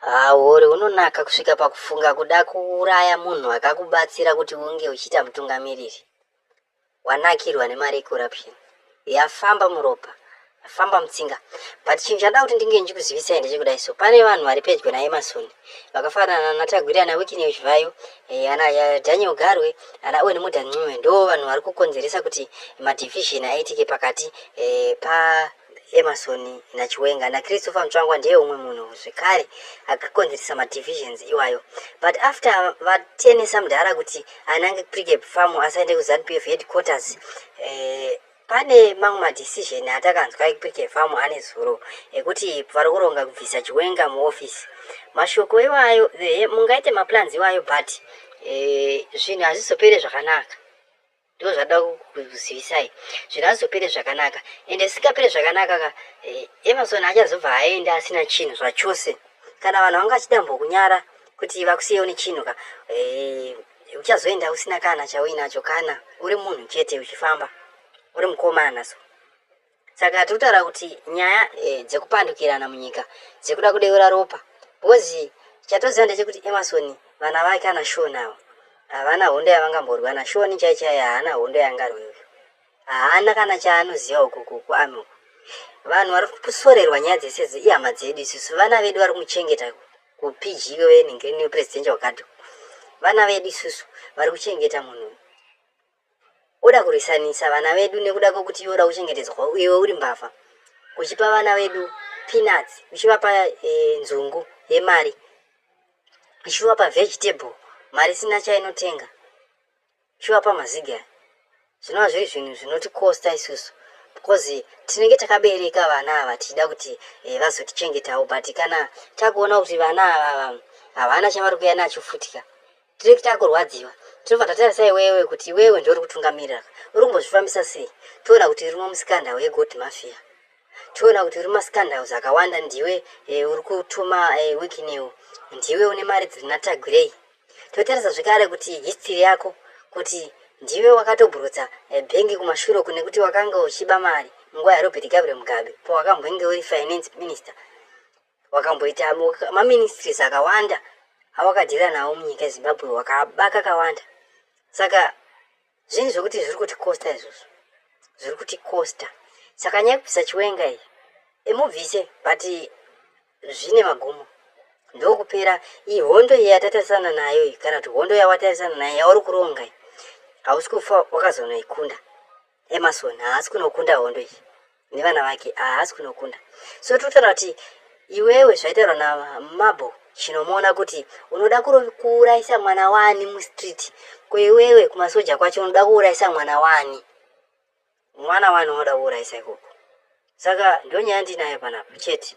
Hauori hunonaka kusvika pakufunga kuda kuuraya munhu akakubatsira kuti unge uchiita mutungamiriri. Wanakirwa nemari yecorruption. Yafamba muropa. Yafamba mutsinga. But chinhu chada kuti ndinge ndichikuzivisai ndechekudai so. Pane vanhu vari pedyo naEmerson. Vakafanana naTagwira naWikini Uchivhayo. Eh, ana eh, Daniel Garwe. Ana Owen Muda Ncube. Ndo vanhu vari kukonzeresa kuti madivision aitike pakati eh, pa Emerson naChiwenga naChristopher Mutsvangwa ndiye umwe munhu zvekare akakonzeresa madivisions iwayo but after vatenesa mudhara kuti anange pregap farm asaende kuzanupf headquarters eh, pane mamwe madecision atakanzwa ekupregap farm ane zuro ekuti vari kuronga kubvisa chiwenga muoffice mashoko iwayo eh, mungaite maplans iwayo but eh, zvinhu eh, hazvizopere zvakanaka ndozvada kuzivisai zvingazopere zvakanaka ende zvisingapere zvakanaka ka eh, emerson achazobva aenda asina chinhu zvachose kana vanhu vanga vachidambokunyara kuti vakusiyewo nechinhu ka eh, uchazoenda usina kana chauinacho kana uri munhu chete uchifamba uri mukomana so saka tiri kutaura kuti nyaya e, dzekupandukirana munyika dzekuda kudeura ropa bhozi chatoziva ndechekuti emarson vana vake ana shoni avo havana hondo yavangamborwa na shoni chai chai haana hondo yaangarwe uyu haana kana chaanoziva ukuku kuami uku vanhu vari kusorerwa nyaya dzese idzi ihama dzedu isusu vana vedu vari kumuchengeta kupg weningiriniyo presidential guard vana vedu isusu vari kuchengeta munhu Oda kurwisanisa vana vedu nekuda kwekuti iwe oda kuchengetedzwa iwe uri mbavha. Uchipa vana vedu peanuts, uchivapa e, nzungu yemari, uchivapa vegetable mari sina chainotenga, uchivapa mazigi aya. Zvinova zviri zvinhu zvinotikosta isusu because tinenge takabereka vana ava tichida kuti e, vazotichengetawo but kana takuona kuti vana ava havana chavari kuya nacho futika Tiri kuita kurwadziwa. Tinobva tatarisa iwewe kuti iwewe ndiwe uri kutungamirira. Uri kumbozvifambisa sei? Toona kuti uri mamusikandau eGold Mafia. Toona kuti uri masikandauzi akawanda ndiwe e, uri kutuma e, eh, wiki new. Ndiwe une mari dziri natagwirei. Totarisa zvekare kuti history yako kuti ndiwe wakatoburutsa eh, bhengi kumashure kune kuti wakanga uchiba mari munguva yarobert gabriel mugabe powakambwenge uri finance minister wakamboita maministries akawanda awakadhira nawo munyika yezimbabwe wakaba kakawanda saka zvinhu zvekuti zviri kuti costa izvozvo zviri kuti costa saka nyaya yekubvisa chiwenga iyi imubvise but zvine magumo ndokupera iyi hondo iyi yatatarisana nayo iyi kana kuti hondo yawatarisana nayo yauri kuronga iyi hausi kufa wakazonoikunda Emerson haasi kunokunda hondo iyi nevana vake haasi kunokunda so totara kuti iwewe zvaitaurwa namabo chinomuona kuti unoda kuurayisa mwana wani mustreet ko iwewe kumasoja kwacho unoda kuurayisa mwana wani mwana wani unoda kuurayisa ikoko saka ndonyaya ndinayo panapa chete